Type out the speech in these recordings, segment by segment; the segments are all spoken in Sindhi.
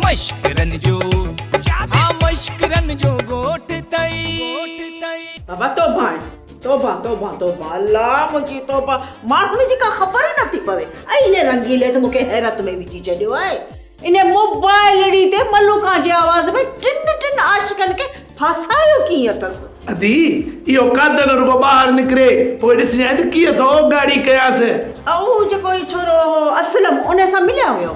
مشڪرن جو ها مشڪرن جو ڳوٺ تئي. بابا توبهان توبهان توبهان توبهان الله منهنجي توبهان ماڻهن جي ڪا خبر ئي نه ٿي پوي ۽ انهي رنگيلي ته مون کي حيرت ۾ وجهي ڇڏيو آهي انهي موبائلڙي تي ملوڪان جي آواز ۾ ٽن ٽن عاشقن کي ڦاسايو ڪيئن اٿس. ادي اهو قادر رڳو ٻاهر نڪري پوء ڏسجانء ته ڪيئن ٿو ڳاڙهي ڪيانس. اهو جيڪو هي ڇورو هو اسلم انهي سان مليا هيو.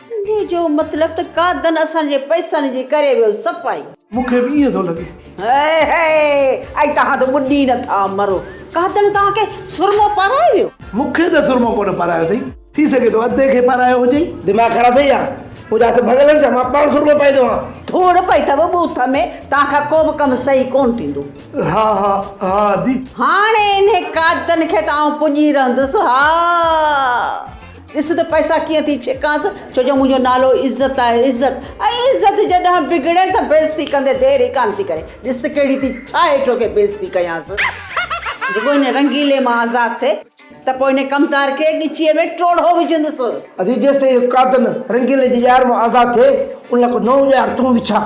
انهيء جو مطلب ته ڪا دن اسان جي پئسن جي ڪري به صفائي. مون کي به ائين ٿو لڳي. هي هي اي توهان ته ٻڏي نه ٿا مرو. ڪا دن توهان کي سرمو پارايو ويو. مون کي ته سرمو ڪونه پارايو اٿئي. ٿي سگهي ٿو ادي کي پارايو هجئي. دماغ خراب اٿئي ڇا؟ منهنجا هٿ ڀڳل آهن ڇا؟ مان پاڻ سرمو پائي ٿو هان. ڌوڙ پئي اٿو ٻوٿ ۾. توهان کان ڪو به ڪم صحيح ڪونه ٿيندو. ها ها ها ادي. هاڻي انهي ڪا دن کي ته آئون پڄي رهندس. ها. ڏس ته پئسا ڪيئن ٿي ڇڪانس، ڇو جو منهنجو نالو عزت آهي، عزت! ۽ عزت جي ڏانهن بگڙي ته بيعزتي ڪندي دير ئي ڪانه ٿي ڪري، ڏس ته ڪهڙي ٿي ڇا هيٺو کي بيعزتي ڪيانس، رڳو هن رنگيلي مان آزاد ٿئي ته پوء هن ڪمتار کي ڳچيء ۾ ٽوڙهو وجهندس. ادي جيستائين اهو قاتل رنگيلي جي ڄار مان آزاد ٿئي، ان لاء ڪو نئون ڄار تون وڇاء.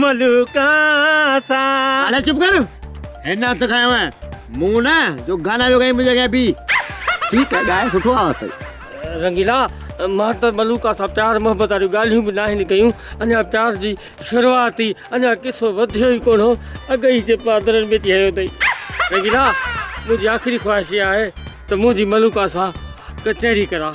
ملوڪ سان. الا چپ ڪر هن هٿ کنيو آهي مون نه جو گانا پيو ڳائين منهنجي اڳيان بيهه. ٺيڪ آهي ڳائي سٺو آهي اٿئي. رنگيلا مان ته ملوڪا سان پيار محبت واريون ڳالهيون به ناهن ڪيون اڃا پيار جي شروعات ئي اڃا قصو وڌيو ئي ڪونه هو اڳ ئي جي پادرن ۾ ٿي هنيو اٿئي رنگيلا منهنجي آخري خواهش اها آهي ته منهنجي ملوڪا سان ڪچهري ڪران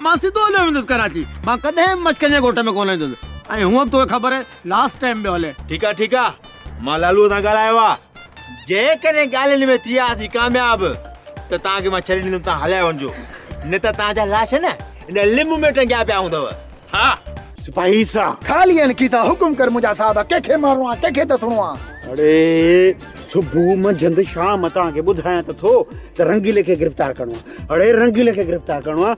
مان سڌو هليو ويندس ڪراچي. مان ڪڏهن به مشڪن جي ڳوٺ ۾ ڪونه ايندس. ۽ هونء به توکي خبر آهي لاسٽ ٽائيم پيو هلين. ٺيڪ آ ٺيڪ آ مان لالوء سان ڳالهايو آ جيڪڏهن ڳالهين ۾ ٿي آسين ڪامياب ته توهان کي مان ڇڏي ڏيندم توهان هليا وڃجو نه ته توهان جا لاش نه ان لنب ۾ ٽنگيا پيا هوندؤ ها سپاهي سان. خالي ۽ کيسا حڪم ڪر منهنجا صاحب ڪنهن کي مارڻو آ ڪنهن کي دسڻو آ. اڙي صبح منجهند شام توهان کي ٻڌايان ته ٿو ته رنگيلي کي گرفتار ڪرڻو آ اڙي رنگيلي کي گرفتار ڪرڻو آ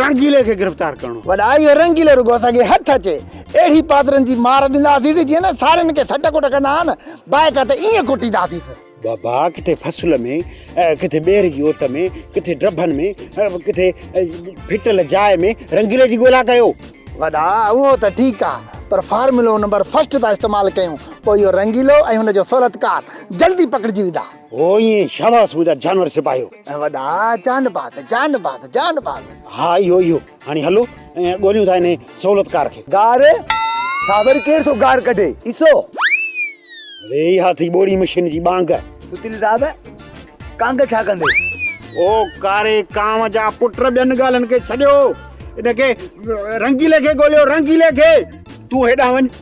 رنگيلي کي گرفتار ڪرڻو وڏا اهو رنگيلي رڳو اسان کي هٿ اچي اهڙي پادرن جي مار ڏينداسيس جيئن نه سارين کي سٽ ڪٽ ڪندا آهن بائڪا ته ائين ڪٽينداسيس بابا ڪٿي فصل ۾ ڪٿي ٻير جي اوٽ ۾ ڪٿي ڊبن ۾ ڪٿي ڦٽل جاء ۾ رنگيلي جي ڳولا ڪيو وڏا اهو ته ٺيڪ آ پر فارمولو نمبر فسٽ ٿا استعمال ڪيون پوء اهو رنگيلو ۽ هن جو صورتڪار جلدي پڪڙجي ويندا هو ائين شاباس منهنجا جانور سپاهيو. ۽ وڏا جان باد جان باد جان باد. ها اهو اهو هاڻي هلو ۽ ڳوليون ٿا انهي سهولتڪار کي. گار سا وري ڪير ٿو گار ڪڍي عيسو. ري اها ٿي ٻوڙي مشين جي ٻانگ. ستيلي صاحب ڪانگ ڇا ڪندي. او ڪاري ڪانو جا پٽ ٻين ڳالهين کي ڇڏيو ان کي رنگيلي کي ڳوليو رنگيلي کي. تون هيڏانهن وڃ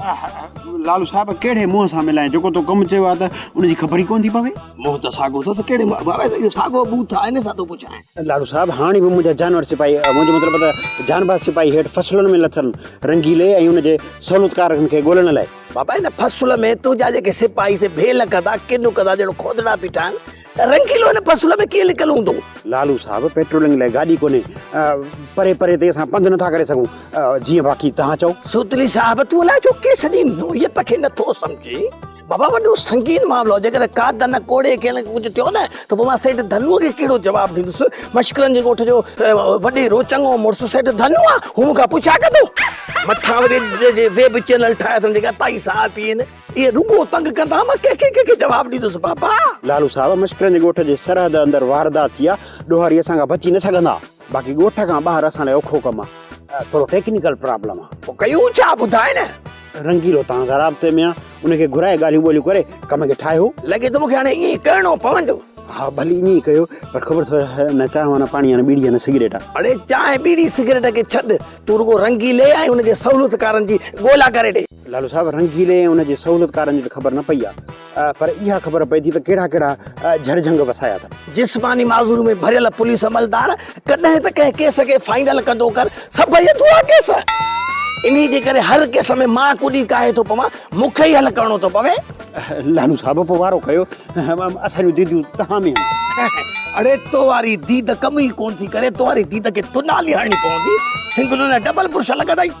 لالو صاحب ڪهڙي منهن سان ملائين جيڪو تو ڪم چيو آهي ته ان جي خبر ئي ڪونه ٿي پوي منهن ته ساڳو اٿس ڪهڙي اهو ساڳو بوٿ آهي ان سان ٿو پڇاين لالو صاحب هاڻي به منهنجا جانور سپاهي منهنجو مطلب ته جانباز سپاهي هيٺ فصلن ۾ لٿل رنگيلي ۽ ان جي سهولتڪارن کي ڳولڻ لاء بابا ان فصل ۾ تنهنجا جيڪي سپاهي سي ڀيل ڪندا ڪن ڪندا ڄڻ کوتڙا بيٺا آهن رنگيلو هن فصل ۾ ڪيئن لڪل هوندو؟ لالو صاحب پيٽرولنگ لاء گاڏي ڪونهي پري پري تي اسان پنڌ نٿا ڪري سگهون جيئن باقي توهان چئو. سوتلي صاحب تون الائي ڇو ڪيس جي نوعيت کي نٿو سمجهين بابا وڏو سنگين معاملو جيڪڏهن ڪا دن ڪوڙي ڪنهن کي ڪجهه ٿيو نه ته پوء مان سيٺ ڌنوء کي ڪهڙو جواب ڏيندس مشڪلن جي ڳوٺ جو وڏي رو چڱو مڙس سيٺ ڌنو آ هو مون کان پڇا ڪندو مٿان وري جي ويب چينل ٺاهي اٿن جيڪا تائي ساهه پيئن. اهي رڳو تنگ ڪندا، مان ڪنهن کي ڪنهن کي جواب ڏيندس بابا. لالو صاحب، مشڪرن جي ڳوٺ جي سرحد اندر واردات ٿي آهي، ڏوهاري اسان کان بچي نه سگهندا، باقي ڳوٺ کان ٻاهر اسان لاء اوکو ڪم آهي، ٿورو ٽيڪنيڪل پرابلم آهي. پوء ڪيون ڇا؟ ٻڌاء نه. رنگيلو توهان سان رابطي ۾ آهي، ان کي گهرائي ڳالهيون ٻولهيون ڪري ڪم کي ٺاهيو. لڳي ٿو مون کي هاڻي ائين ئي ڪرڻو پوندو. ها ڀلي ائين ئي ڪيو، پر خبر اٿئي نه چانهه نه پاڻي نه ٻيڙي نه سگريٽ آهي. اڙي چانهه ٻيڙي سگريٽ کي ڇڏ، تون رڳو رنگيلي ۽ ان جي سهولتڪارن جي ڳولا ڪري ڏي. لالو صاحب رنگيلي ۽ ان جي سهولتڪارن جي ته خبر نه پئي آهي پر اها خبر پئي ٿي ته ڪهڙا ڪهڙا جهر جهنگ وسايا اٿن. جسماني معذوري ۾ ڀريل پوليس عملدار ڪڏهن ته ڪنهن ڪيس کي فائنل ڪندو ڪر سڀئي اڌورا ڪيس. انهي جي ڪري هر ڪيس ۾ مان ڪڏي ڪاهي ٿو پوان مون کي ئي حل ڪرڻو ٿو پوي. لالو صاحب پوء وارو ڪيو اسان جون ديديون توهان ۾ آهن. اڙي تو واري ديد ڪم ئي ڪونه ٿي ڪري تو واري ديد کي تنالي هڻڻي پوندي سنگلو نه ڊبل برش لڳندئي.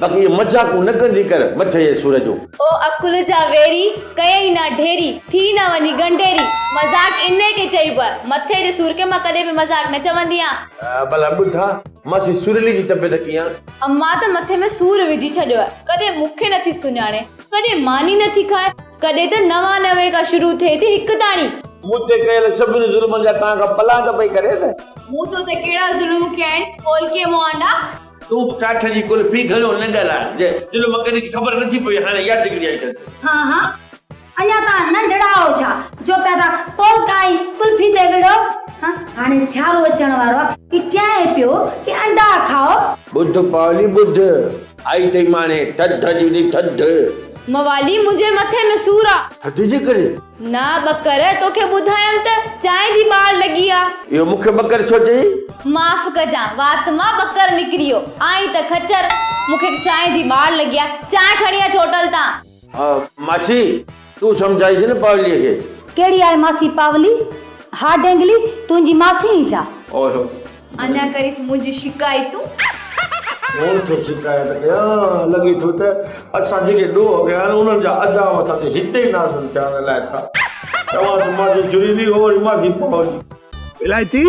باقي اهي مذاقون نه ڪندي ڪر مٿي جي سر جون. او عقل جا ويري، ڪيئي نه ڍيري، ٿي نه وڃي ڳنڍيري. مذاق انهيء کي چئبو آهي. مٿي جي سر کي مان ڪڏهن به مذاق نه چوندي آهيان. ڀلا ٻڌ ها ماسي سرلي جي طبيعت ڪيئن؟ امان ته مٿي ۾ سور وجهي ڇڏيو آهي. ڪڏهن مون کي نٿي سڃاڻي، ڪڏهن ماني نٿي کائي، ڪڏهن ته نوان نوي کان شروع ٿئي ٿي هڪ تاڻي. مون تي ڪيل سڀني ظلمن جا توهان کان پلاند پئي ڪري نه. مون تو تي ڪهڙا ظلم ڪيا آهن، کول ڪيئي مون آنڊا. تون به ڪاٺ جي قلفي گهڻو نه ڳالهاء، جنهن جو مڪني کي خبر نٿي پوي، هاڻي اها ڊگري آئي اٿس. ها ها، اڃا تان ننڍڙا آهو ڇا، جو پيا ٿا ٽوٽ ۽ قلفي تي وڙهو. ها، هاڻي سيارو اچڻ وارو آهي، هي چئي پيو ته انڊا کائو. ٻڌ پاولي ٻڌ، آئي اٿئي ماڻي ٿڌ جي ٿڌ. موالي، منهنجي مٿي ۾ سور آ. ٿڌ جي ڪري؟ نه ٻڪر، توکي ٻڌايم ته چانهه جي ٻار لڳي آ. اهو مون کي ٻڪر ڇو چئي؟ معاف ڪجان، وات مان ٻڪر نڪريو. آئين ته خچر، مون کي چانهه جي ٻار لڳي آ. چانهه کڻي اچ هوٽل تان. ها ماسي، تون سمجهائينس نه پاوليء کي. ڪهڙي آهي ماسي پاولي؟ ها ڊينگلي، تنهنجي ماسي ئي ڇا؟ اوهه، اڃا ڪريس منهنجي شڪايتون. مون ٿو شڪايت ڪيان. لڳي ٿو ته اسان جيڪي ڏوهه ڪيا آهن انهن جا ادا مٿا تي هتي ئي نازل ٿيا آهن الائي ڇا چوان ته ماضي جريلي هو ۽ ماضي پاولي. الائتي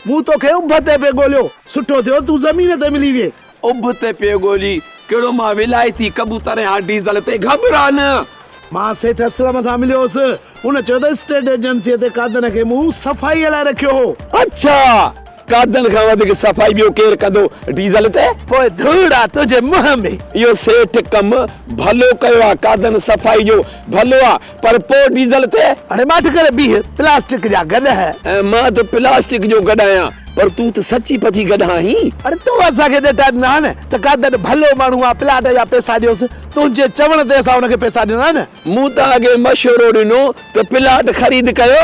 مون توکي اڀ تي پئي ڳوليو سٺو ٿيو تون زمين تي ملي وئي اڀ تي پيو ڳولي، ڪهڙو مان ولايتي ڪبوتر ۽ هاء ڊيزل تي گهٻران. مان سيٺ اسلم سان مليو هوس. هن چيو ته اسٽيٽ ايجنسيء تي قادن کي مون صفائيء لاء رکيو هو. اڇا! قادن کان وڌيڪ صفائي ٻيو ڪير ڪندو ڊيزل تي؟ پوء ڌوڙ آ تنهنجي منهن ۾. اهو سيٺ ڪم ڀلو ڪيو آ. قادن صفائي جو ڀلو آ. پر پوء ڊيزل تي. هاڻي ماٺ ڪري بيهه، پلاسٽڪ جا گڏهه. ۽ مان ته پلاسٽڪ جو گڏهه آهيان، پر تون ته سچي پچي گڏهه آهين. اڙي تون اسان کي ڏٽا ڏنا آهن ته قادر ڀلو ماڻهو آهي، پلاٽ جا پئسا ڏيوس، تنهنجي چوڻ تي اسان ان کي پئسا ڏنا آهن. مون توهان کي مشورو ڏنو ته پلاٽ خريد ڪيو،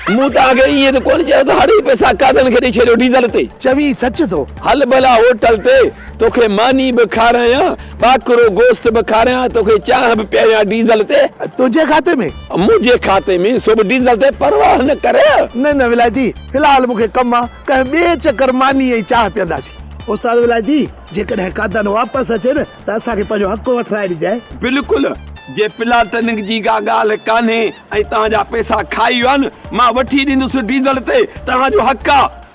مون توهان کي ائين ته ڪونه چيو ته هڙ هي پئسا قادر کي ڏئي ڇڏيو ڊيزل تي. چوين سچ ٿو. هل ڀلا هوٽل تي، توکي ماني به کارايان. ٻاڪرو گوشت به کاريان، توکي چانهه به پياريان ڊيزل تي. تنهنجي کاتي ۾؟ منهنجي کاتي ۾، سو به ڊيزل تي، پرواهه نه ڪر. نه نه ولايتي، في الحال مون کي ڪم آ، ڪنهن ٻئي چڪر ماني ۽ چانهه پيئنداسين. استاد ولايتي، جيڪڏهن قادن واپس اچي نه ته اسان کي پنهنجو حق وٺرائي ڏجانء. بلڪل، جي پلاٽننگ جي ڪا ڳالهه ڪانهي ۽ توهان جا پئسا کائي ويا نه، مان وٺي ڏيندس ڊيزل تي، توهان جو حق آ.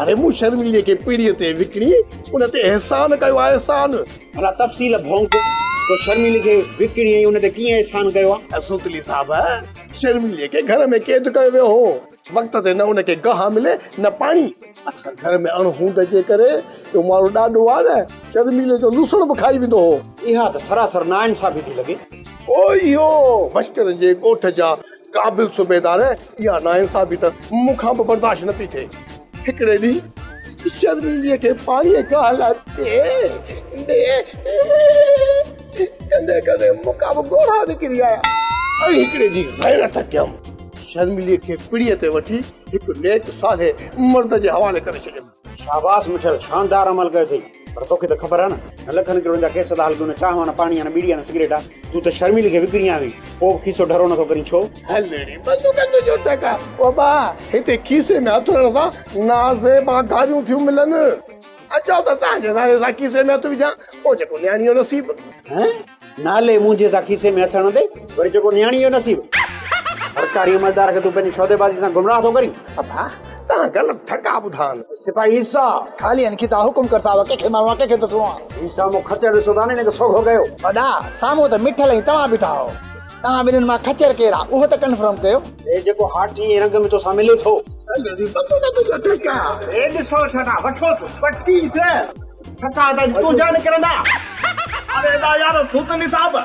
اڙي مون شرميلي کي پيڙهيء تي وڪڻي ان تي احسان ڪيو آهي احسان. ڀلا تفصيل ڀونڪ تو شرميلي کي وڪڻي ۽ ان تي ڪيئن احسان ڪيو آهي. اي سوتلي صاحب شرميلي کي گهر ۾ قيد ڪيو ويو هو وقت تي نه ان کي گاهه ملي نه پاڻي اڪثر گهر ۾ اڻ هوند جي ڪري اهو ماڻهو ڏاڍو آهي نه شرميلي جو لوسڻ به کائي ويندو هو. اها ته سراسر ناانصافي ٿي لڳي. او اهو مشڪرن جي ڳوٺ جا قابل صوبيدار اها ناانصافي ته مون کان به برداشت نه پئي ٿئي. هڪڙي ڏينهن شرميلي کي پاڻي ۽ گاهه لاء بي بي ڪندي ڪندي مون کان به ڳوڙها نڪري آيا ۽ هڪڙي جي غيرت ڪيم. شرميلي کي پڙي تي وٺي هڪ نيڪ صالح مرد جي حوالي ڪري ڇڏيم. شاباس مٺيل شاندار عمل ڪيو اٿئي پر توکي ته خبر آ نه نه لکن ڪروڙن جا ڪيس ٿا هلڪيون نه چانهه آ نه پاڻي آ نه ٻيڙي آ نه سگريٽ آ تون ته شرميلي کي وڪڻي آئي هئين پو به کيسو ڍرو نٿو ڪرين ڇو؟ هلڙي بندوقن جو جو ٽڪ آ او ٻا هتي کيسي ۾ هٿ هڻڻ سان نازيبا گاريون ٿيون ملن اچو ته تهان جي نالي سان کيسي ۾ هٿ وجهان پو جيڪو نياڻي جو نصيب. هه نالي مونجهي سان کيسي ۾ هٿ هڻندي وري چئو ڪو نياڻي جو نصيب. سرڪاري عملدار کي تون پنهنجي سوديبازي سان گمراهه ٿو ڪرين. ابا توهان غلط ٿڪا ٻڌان. سپاهي عيسيٰ خالي هن کي ٿا حڪم ڪر صاحب ڪنهن کي مارڻو آهي ڪنهن کي ڏسڻو آهي. هي سامهون خچر ڏسو ٿا نه هن کي سوگهو ڪيو. وڏا سامهون ته مٺل ۽ توهان بيٺا آهو توهان ٻنهين مان خچر ڪير آهي اهو ته ڪنفرم ڪيو. هي جيڪو هاٺي ۽ رنگ ۾ توسان ملي ٿو. اهي ڏسو ڇا ٿا وٺوس وٺيس. ٺڪا ادا جي تون جا نڪرندا اري ادا يار سوتلي صاحب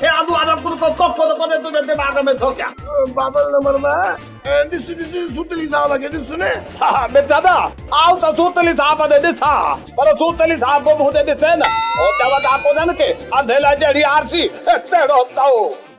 اي ابو ادب ڪو ڪو ڪو ڪو ڪو تنهنجي دماغ ۾ ٿو ڪيا بابل نه مردا ڏس ڏس سوتلي صاحب کي ڏس نه ها ها مرزادا آئون ته سوتلي صاحب ڏي ڏسان ها پر سوتلي صاحب به مون ڏي ڏسي نه هو چوندا ڪونهن ڪي انڌي لاء جهڙي آرسي تهڙو تئو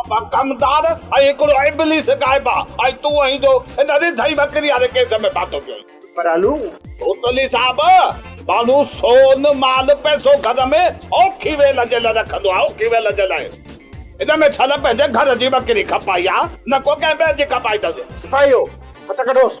ابا ڪمدار ۽ هڪڙو ابليس غائبا ۽ تون ۽ جو هن رڌئي وڪري واري ڪيس ۾ پاتو پيو آهين. پرالو. ڪوتلي صاحب، ماڻهو سون، مال، پئسو گهر ۾ اوکي ويل جي لاء رکندو آهي، اوکي ويل جي لاء. هن ۾ ڇل پنهنجي گهر جي وڪري کپائي آهي، نه ڪو ڪنهن ٻئي جي کپائيندس. سپاهيو، هٿ ڪڍوس.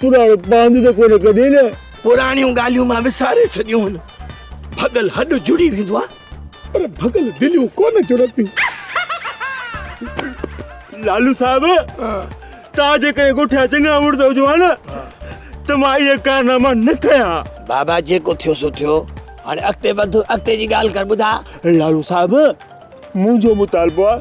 پراڻو پاند ته ڪونه ڪڍين ها؟ پراڻيون ڳالهيون مان وساري ڇڏيون هن. ڀڳل هڏ جڙي ويندو آ. پر ڀڳل دليون ڪونه جڙنديون. لالو صاحب توهان جيڪڏهن ڳوٺيا چڱا مڙس هجو ها نه ته مان اهي ڪارناما نه ڪيا ها. بابا جيڪو ٿيو سو ٿيو هاڻي اڳتي وڌ اڳتي جي ڳالهه ڪر ٻڌاء. لالو صاحب منهنجو مطالبو آ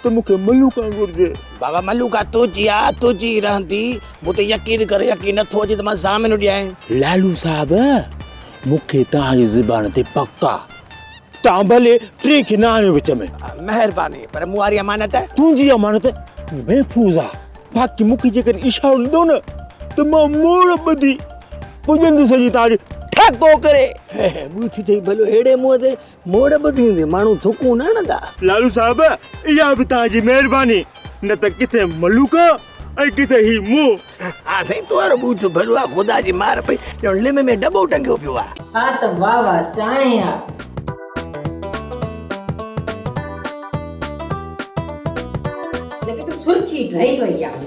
ته مون کي ملوڪان گهرجي. بابا ملوڪان تنهنجي آ، تنهنجي ئي رهندي. مون تي يقين ڪر، يقين نٿو اچي ته مان ضامنو ڏيانء. لالو صاحب، مون کي توهان جي زبان تي پڪ آ. توهان ڀلي ٽئين کي نه آڻيو وچ ۾. مهرباني، پر مون واري امانت؟ تنهنجي امانت محفوظ آ، باقي مون کي جيڪڏهن اشارو ڏنو نه ته مان موڙ ٻڌي پڄندس جي توهان ڏي ٺڪ ڪو ڪري. ٻيو ڇو چئي ڀلو اهڙي منهن تي موڙ به ٿيندي ماڻهو ٿڪون نه هڻندا. لالو صاحب اها به توهان جي مهرباني نه ته ڪٿي ملوڪ ۽ ڪٿي هي مون. ها سائين توهارو ٻوٿ ڀريو آ خدا جي مار پئي ڄڻ لم ۾ ڊٻو ٽنگيو پيو آ. ها ته واهه واهه چانهه آ. لڳي ٿو سرخي ڊري وئي آهي.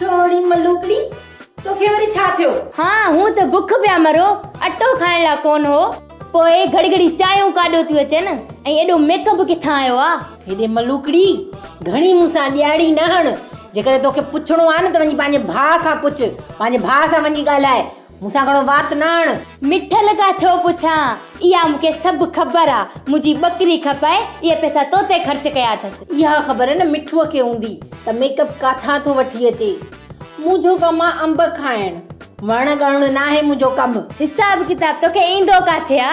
ڇوڙي ملوڪڙي، توکي وري ڇا ٿيو؟ ها، هون ته بک پيا مرو، اٽو کائڻ لا ڪونه هو. پوء گهڙي گهڙي چانهيون ڪاڏيو ٿيون اچن ۽ ايڏو ميڪ اپ ڪٿان آيو آ؟ هيڏي ملوڪڙي، گهڻي مون سان ڏياڙي نه هڻ. جيڪڏهن توکي پڇڻو آ نه ته وڃي پنهنجي ڀاء کان پڇ، پنهنجي ڀاء سان وڃي ڳالهاء. مون سان گهڻو وات نه آڻ. مٺل کان ڇو پڇان، اها مون کي سڀ خبر آ. منهنجي ٻڪري کپائي اهي پئسا تو تي خرچ ڪيا اٿس. اها خبر نه مٺوء کي هوندي ته ميڪ اپ ڪاٿان ٿو وٺي اچي. منهنجو ڪم آ انب کائڻ. وڻ ڳڻڻ ناهي منهنجو ڪم. حساب ڪتاب توکي ايندو ڪاٿي آ.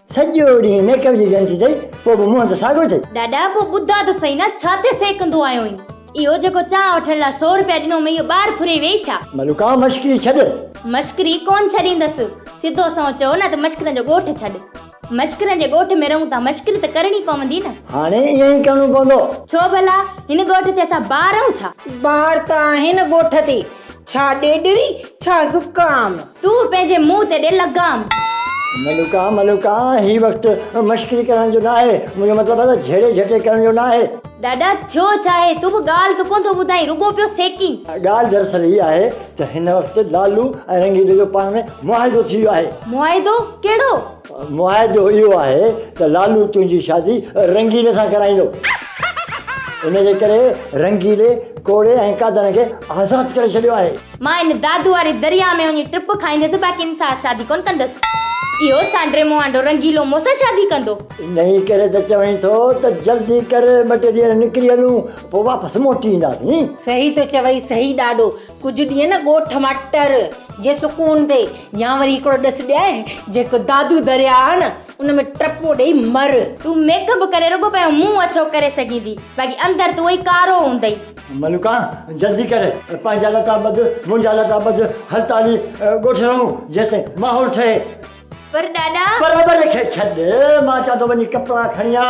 سڄو ڏينهن ميڪ اپ جي ڀيڻ ٿي ٿئي پوء به منهن ته ساڳو ٿئي. ڏاڏا پوء ٻڌاء ته سهي نه ڇا تي سهڪندو آهين؟ اهو جيڪو چانهه وٺڻ لاء سؤ روپيا ڏنو مئي اهو ٻاهر ڦري ويئي ڇا؟ ملوڪا مشڪري ڇڏ. مشڪري ڪونه ڇڏيندس. سڌو سنئون چئو نه ته مشڪرن جو ڳوٺ ڇڏ. مشڪرن جي ڳوٺ ۾ رهون ٿا مشڪري ته ڪرڻي پوندي نه. هاڻي ائين ئي ڪرڻو پوندو. ڇو ڀلا؟ هن ڳوٺ تي اسان ٻار آهيون ڇا؟ ٻار ته آهين ڳوٺ تي. ڇا ڏيڏري ڇا زڪام. تون پنهنجي منهن تي ڏي لگام. ملوڪا ملوڪا هي وقت مشڪري ڪرڻ جو ناهي منهنجو مطلب آهي ته جهيڙي جهٽي ڪرڻ جو ناهي. ڏاڏا ٿيو ڇاهي تون به ڳالهه ته ڪونه ٿو ٻڌائين رڳو پيو سيڪين. ڳالهه دراصل هي آهي ته هن وقت لالو ۽ رنگيلي جو پاڻ ۾ معاهدو ٿي ويو آهي. معاهدو ڪهڙو؟ معاهدو اهو آهي ته لالو تنهنجي شادي رنگيلي سان ڪرائيندو. ان جي ڪري رنگيلي ڪوڙي ۽ قادن کي آزاد ڪري ڇڏيو آهي. مان ان دادو واري درياء ۾ وڃي ٽپ کائيندس باقي ان سان شادي ڪونه ڪندس. اهو سانڊري موانڊو رنگيلو مون سان شادي ڪندو. انهي ڪري ته چوين ٿو ته جلدي ڪر ٻه ٽي ڏينهن ڏنڪري هلون پوء واپس موٽي اينداسين. صحيح ٿو چوئي صحيح ڏاڏو ڪجهه ڏينهن نه ڳوٺ مٽر جي سڪون تي يا وري هڪڙو ڏس ڏيائي جيڪو دادو درياء آهي نه ان ۾ ٽپو ڏيئي مر. تون ميڪ اپ ڪري رڳو پنهنجو منهن اڇو ڪري سگهيندي باقي اندر تون اهي ڪارو هوندئي. ملوڪا جلدي ڪر پنهنجا لٽا ٻڌ منهنجا لٽا ٻڌ هل ته هلي ڳوٺ رهون جيستائين ماحول ٺهي. پر ڏاڏا. پر ٻري کي ڇڏ مان چوان ٿو وڃي ڪپڙا کڻي آ.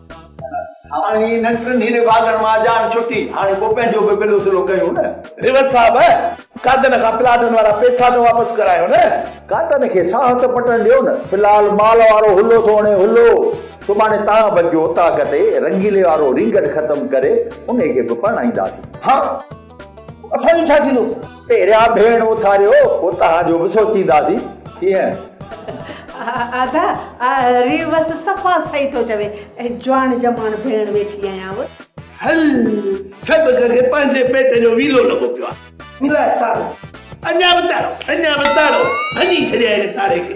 هاڻي هنن ٽنهي نڀاڳن مان جان ڇٽي، هاڻي پوء پنهنجو به بلو سلو ڪيون نه. ريوت صاحب! ڪاتن کان پلاٽن وارا پيسا ته واپس ڪرايو نه. ڪاتن کي ساهه ته پٽڻ ڏيو نه. في الحال مال وارو هلو ٿو هڻي هلو. سڀاڻي تان بچ جو اوطاق تي رنگيلي وارو رينگٽ ختم ڪري انهي کي به پرڻائينداسين. هان! اسان جو ڇا ٿيندو؟ پهريان ڀيڻ اٿاريو پوء توهان جو به سوچينداسين ڪيئن؟ ادا ريوس صفا صحيح ٿو چوي جوان جماڻ ڀيڻ ويٺي آهيان و. هل سڀ کي پنهنجي پيٽ جو ويلو لڳو پيو آهي. ملائي تارو. اڃا به تارو اڃا به تارو ڀڃي ڇڏيائين تاري کي.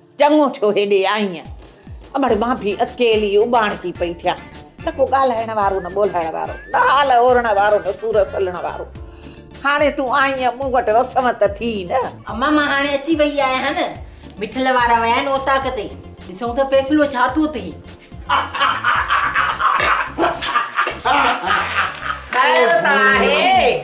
چڱو ٿيو هيڏي آئينء. امڙ مان به اڪيلي اٻاڻڪي پئي ٿيان. نه ڪو ڳالهائڻ وارو، نه ٻولهائڻ وارو، نه حال اورڻ وارو، نه سور سلڻ وارو. هاڻي تون آئينء، مون وٽ رسم ته ٿي نه. امان مان هاڻي اچي ويئي آهيان ها نه. مٺل وارا ويا آهن اوطاق تي. ڏسون ٿا فيصلو ڇا ٿو ٿئي. خير ته آهي.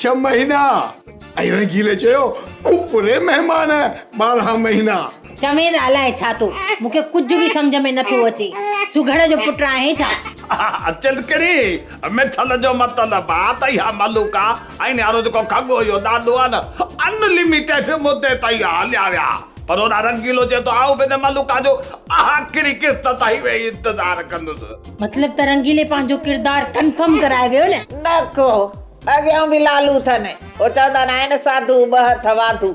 ڇهه مهينا. ۽ رنگيلي چيو، ڪو پري مهمان ٻارهن مهينا. چوين الائي ڇا ٿو، مون کي ڪجهه به سمجهه ۾ نٿو اچي. سگهڙ جو پٽ آهين ڇا؟ چلڪڙي، مٿل جو مطلب آ ته اها ملوڪ آ. ۽ نيارو جيڪو کڳو اهو ڏاڏو آ نه، ان لميٽيڊ مدي تائين اها هليا ويا. پر هوڏانهن رنگيلو چئي ٿو، آئون به ان ملوڪ جو آخري قسط تائين ويهي انتظار ڪندس. مطلب ته رنگيلي پنهنجو ڪردار ڪنفرم ڪرائي ويو نه؟ نه ڪو اڳيون به لالو اٿن. هو چوندا ناهن ساڌو ٻه هٿ واڌو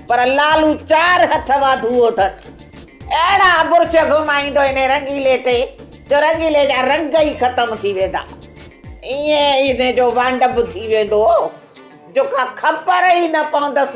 پر لالو چار هٿ واڌو اٿن. اهڙا برڇ گهمائيندو انهي رنگيلي تي جو رنگيلي جا رنگ ئي ختم ٿي ويندا. ائين انهي جو وانڊ به ٿي ويندو هو جو ڪا خبر ئي نه پوندس.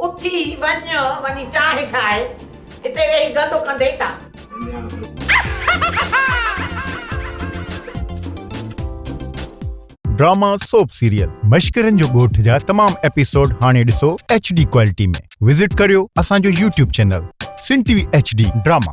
اٿي وڃ وڃي چانهه ٺاهه. هتي ويهي گندو ڪندين ڇا؟ ڊراما سوپ سيريل مشڪرين جو ڳوٺ جا تمام ايپيسوڊ هاڻي ڏسو HD ڪوالٽي ۾ وزٽ ڪريو اسان جو YouTube channel Sindh T V HD drama.